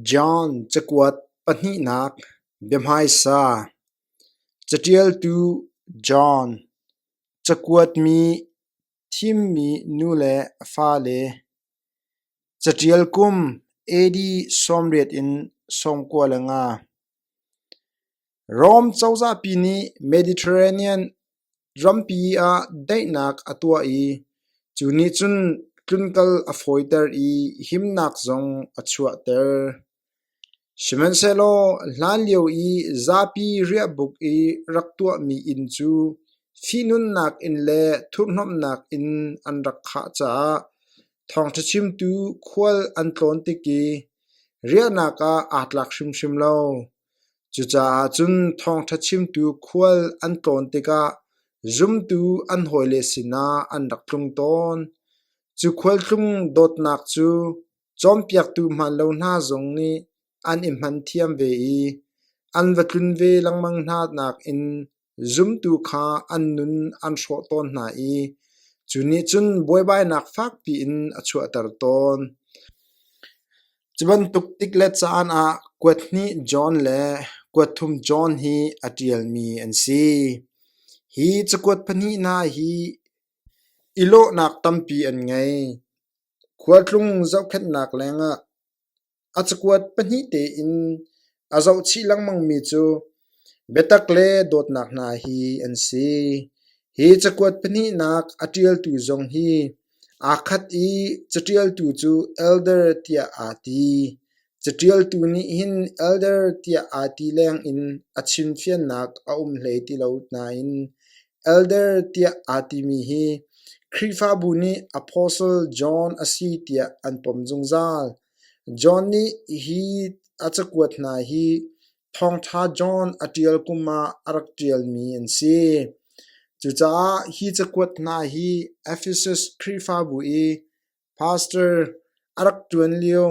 John cakuat pahnihnak biahmaisa Caṭialtu John cakuatmi thimmi nu le fale Caṭial kum AD sawmriat in sawmkua le nga Rom cozahpi nih Mediterranean Rampi ah daihnak a tuah i cu nih cun tlunkal a fawiter i himnak zong a chuahter. Sihmanhsehlaw hlanlio i zapi riahbuk i rak tuahmi inn cu fihnunnak inn le thurhnomhnak inn an rak khah caah thawngṭha chimtu khual an tlawn tik i riahnak ah aa tlak hrimhrim lo. Cucaah cun thawngṭha chimtu khual an tlawn tikah zumtu an hawile sinah an rak tlung tawn. Cu khual tlung dawtnak cu cawnpiaktu hmaan lo hna zong nih an i hman thiam ve i an va tlun ve lengmang hna nakin Zumtu kha an nun an hrawh tawn hna i cu nih cun buaibainak fakpi in a chuahter tawn. Cu bantuk tik le caan ah kuat hnih John le kuat thum John hi a ṭialmi an si. Hi cakuat pahnih hna hi i lawhnak tampi an ngei. Khualtlung zohkhenhnak lengah A cakuat pahnih tein a zohchih lengmangmi cu biatak le dawtnak hna hi an si. Hi cakuat pahnihnak a ṭialtu zong hi aa khat i caṭialtu cu elder tiah aa ti. Caṭialtu nih hin elder tiah aa ti lengin a chimfiannak a um hlei ti lo nain Elder tiah aa timi hi Khrihfabu nih Apostle John a si tiah an pom zungzal. John nih hi a cakuat hna hi Thawngṭha John a ṭial kum ah a rak ṭialmi an si. Cucaah hi cakuat hna hi Ephesus Khrihfabu i Pastor a rak ṭuan lio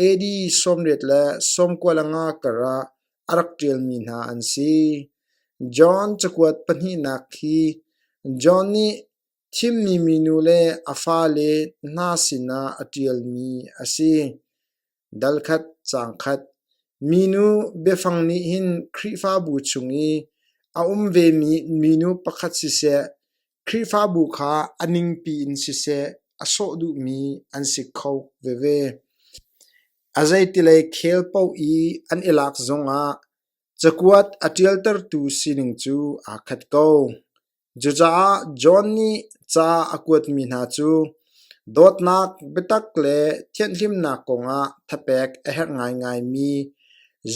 AD sawmriat le sawmkualanga karah a rak ṭialmi hna an si. John cakuat pahnihnak khi John nih thimmi minu le a fale hna sinah a ṭialmi a si. Dal khat, caang khat. Minu biafang nih hin Khrihfabu chung i a um vemi minu pakhat siseh, Khrihfabu kha a ningpi in siseh a sawh duhmi an si kho veve. A zeitilei khel paoh i an i lak zongah cakuat a ṭialtertu sining cu aa khat ko. Cucaah John nih ca a kuatmi hna cu dawtnak, biatak le thianhlimnak kongah thapek a herh ngaingaimi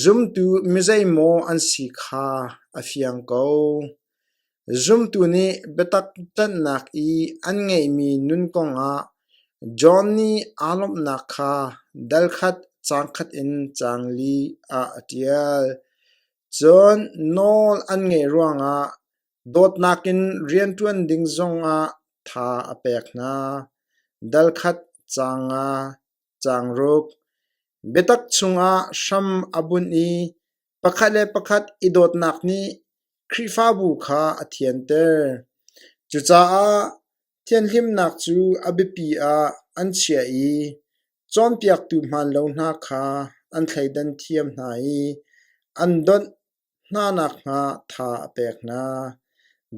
zumtu mizeimaw an si kha a fiang ko. Zumtu nih biatak ṭanhnak i an ngeihmi nun kongah John nih aa lawmhnak kha dalkhat cangkhat in caang li ah a ṭial. Cun nawl an ngeih ruangah Dawtnak in rianṭuan ding zongah tha a pek hna, dalkhat caanga caangruk, biatak chungah hram a bunh i pakhat le pakhat i dawtnak nih Khrihfabu kha a thianter. Cucaah thianhlimnak cu a biapi ah an chiah i cawnpiaktu hmaan lo hna kha an thleidan thiam hna i an donh. Hna nakhnga tha a pek hna,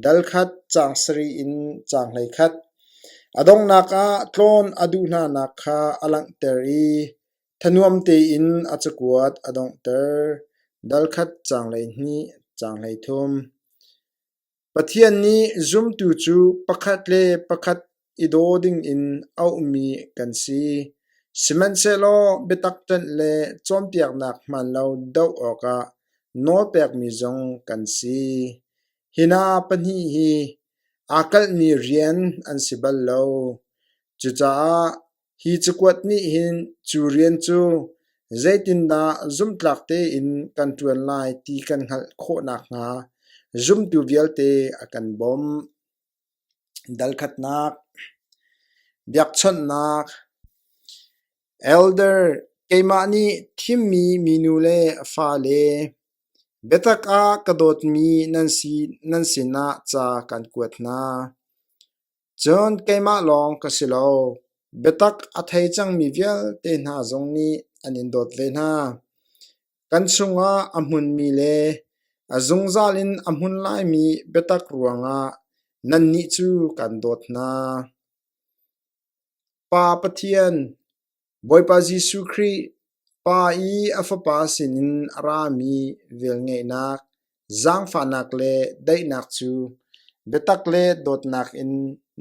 dal khat, caang sarih in caang hleikhat. A donghnak ah tlawn a duh hnanak kha a langhter i thanuam tein a cakuat a donghter, dal khat, caang hleihnih, caang hleithum. Pathian nih zumtu cu pakhat le pakhat i daw dingin auhmi kan si, sihmanhsehlaw biatak ṭanh le cawnpiaknak hmaan lo doh awkah nawlpekmi zong kan si. Hi hna pahnih hi aa kalhmi rian an si bal lo. Cucaah Hi cakuat nih hin cu rian cu zeitindah zumhtlak tein kan ṭuan lai ti kan hngalh khawh nakhnga zumtu vialte a kan bawmh. Dalkhatnak, biakchawnhnak, elder, keimah nih thimmi minu le fale, biatak ah ka dawtmi nan sinah ca kan kuat hna. Cun keimah lawng ka si lo, biatak a thei cangmi vialte hna zong nih an in dawt ve hna. Kan chungah a hmunmi le a zungzal in a hmun laimi biatak ruangah nannih cu kaan dawt hna. Pa Pathian, Bawipa Jesuh Khrih, Pa i a Fapa sinin a rami velngeihnak, zaangfahnak le daihnak cu biatak le dawtnak in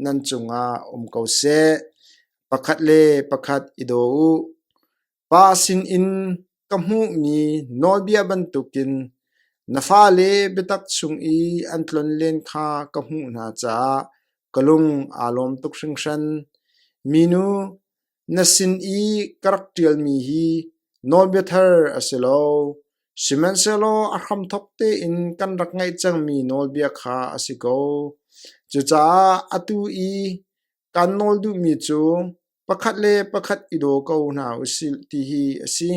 nan cungah um ko seh. Pakhat le pakhat i daw u. Pa sinin ka hmuhmi nawlbia bantukin na fale biatak chung i an tlon len kha ka hmuh hna caah ka lung aa lawm tuk hringhran. Minu, Na sin i ka rak ṭialmi hi nawlbia thar a si lo, sihmanhsehlaw a hramthawk tein kan rak ngaih cangmi nawlbia kha a si ko. Cucaah atu i kan nawl duhmi cu pakhat le pakhat i daw ko hna u sih ti hi a si.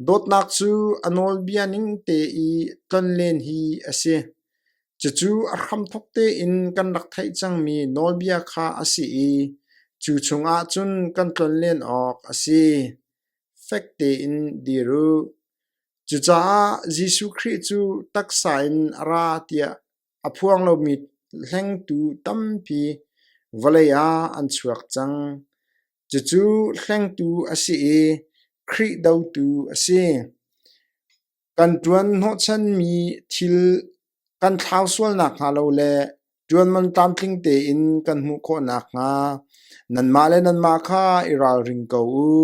Dawtnak cu a nawlbia ning te i tonlen hi a si. Cucu a hramthawk tein kan rak theih cangmi nawlbia kha a si i cu chungah cun kan tlon len awk a si. Fek tein dir u. Cucaah Jesuh Khrih cu taksa in a ra tiah a phuang lomi hlengtu tampi vawlei ah an chuak cang. Cucu hlengtu a si i Khrih dotu a si. Kan ṭuan hnawhchanmi thil kan thlau sual nakhnga lo le ṭuanman tlamtling tein kan hmuh khawh nakhnga nanmah le nanmah kha i ralring ko u.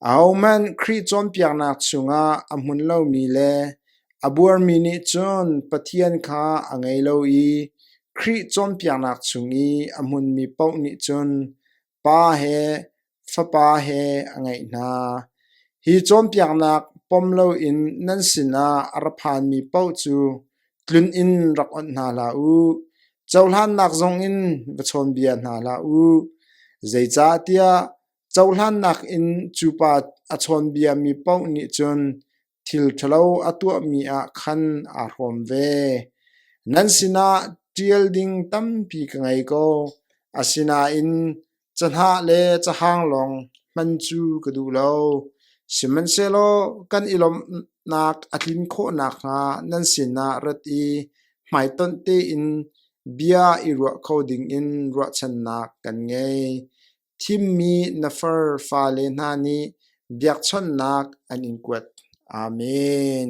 Ahohmanh Khrih cawnpiaknak chungah a hmun lomi le a buarmi nih cun Pathian kha a ngei lo i Khrih cawnpiaknak chung i a hmunmi paoh nih cun Pa he fapa he a ngeih hna. Hi cawnpiaknak pom loin nan sinah a ra phanmi paoh cu tlun in rak onh hna hlah u. Cohlannak zongin va chawnbia hna hlah u. Zeicahtiah cohlannak in cu pa a chawnbiami paoh nih cun Thil ṭhalo a tuahmi ah khan aa hrawm ve. Nan sinah ṭial ding tampi ka ngei ko, asinain cahnah le cahang lawng hman cu ka duh lo. Sihmanhsehlaw kan i lawmhnak a tlin khawh nakhnga nan sinah rat i hmaitonh tein bia i ruah kho dingin ruahchannak kan ngei. Thimmi na far fale hna nih biakchawnhnak an in kuat. Amen!